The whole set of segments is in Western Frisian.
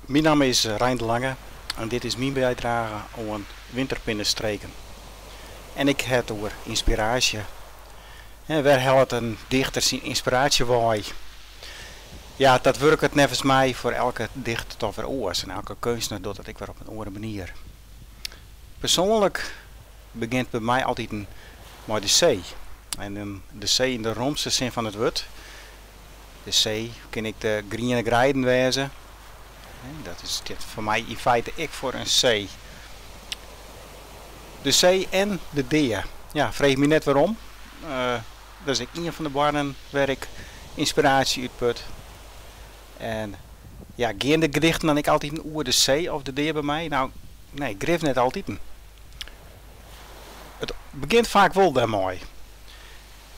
Myn namme is Rein de Lange en dit is myn bydrage oan Winterpinne Streken. En ik ha it oer ynspiraasje. Wêr hellet in dichter syn ynspiraasje wei? Ja, dat wurket neffens my foar elke dichter dochs wer oars en elke keunstner docht it ek wer op in oare manier. Persoanlik begjint by my altiten mei de see en de see yn de romste sin fan it wurd. De see kin ek de griene greiden wêze. Dat is foar my yn feite ek foar in see. De see en de dea. Ja, freech my net wêrom. Dat is ek ien fan de boarnen wêr't ik ynspiraasje út put. En ja, gean de gedichten dan ek altiten oer de see of de dea by my? No, nee, grif net altiten. It begjint faak wol dêrmei.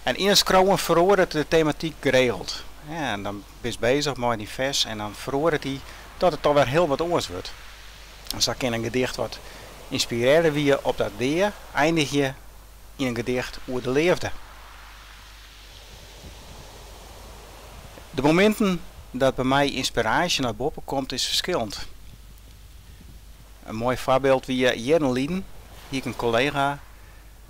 En yn it skriuwen feroaret de tematyk geregeld. En dan bist bezich mei dyn fers en dan feroaret er dat it toch wer hiel wat oars wurdt. En sa kin in gedicht wat ynspirearre wie op de dea eindigje yn in gedicht oer de leafde. De mominten dat by my ynspiraasje nei boppe komt is ferskillend. In moai foarbyld wie jierren lyn, hie ik in kollega,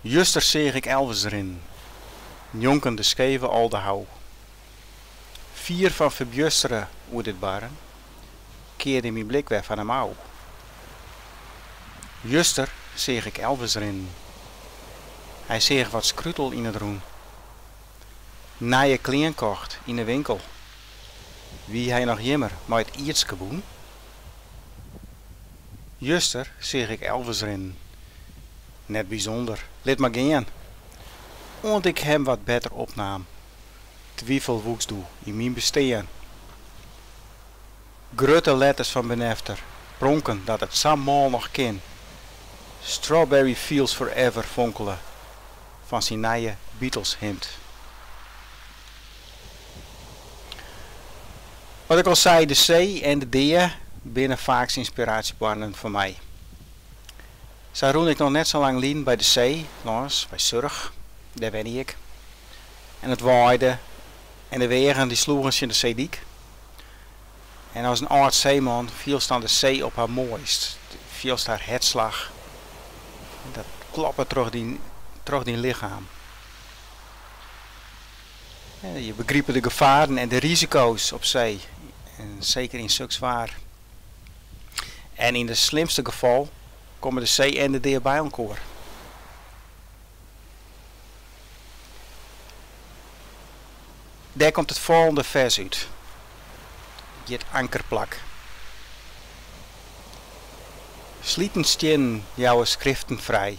Juster seach ik Elvis rinnen, njonken de skeve Aldehou. Fier fan ferbjustere oer dit barren, kearde myn blik wer fan him ôf. Juster seach ik Elvis rinnen. Hy seach wat skrutel yn it rûn. Nije klean kocht yn 'e winkel. Wie hy noch jimmar mei it ierdske bûn? Juster seach ik Elvis rinnen. Net bysûnder, lit mar gean. Oant ik him wat better opnaam, twifel woeks doe yn myn bestean. Grutte letters fan benefter pronken dat it sa mâl noch kin. Strawberry Fields Forever fonkele fan syn nije Beatles-himd. Wat ik al sei, de see en de dea binne faaks ynspiraasjeboarnen foar my. Sa rûn ik noch net sa lang lyn by de see, lâns by Surch, dêr wenje ik, en it waaide en de weagen dy sloegen tsjin de seedyk. En as in âld seeman fielst dan de see op har moaist, fielst har hertslach en dat kloppet troch dyn troch dyn lichem. Je begripe de gefaren en de risiko's op see, en seker yn suks waar. En yn it slimste gefal komme de see en de dea by elkoar. Dêr komt it folgjende fers út, hjit Ankerplak. Sliten stiennen jouwe skriften frij.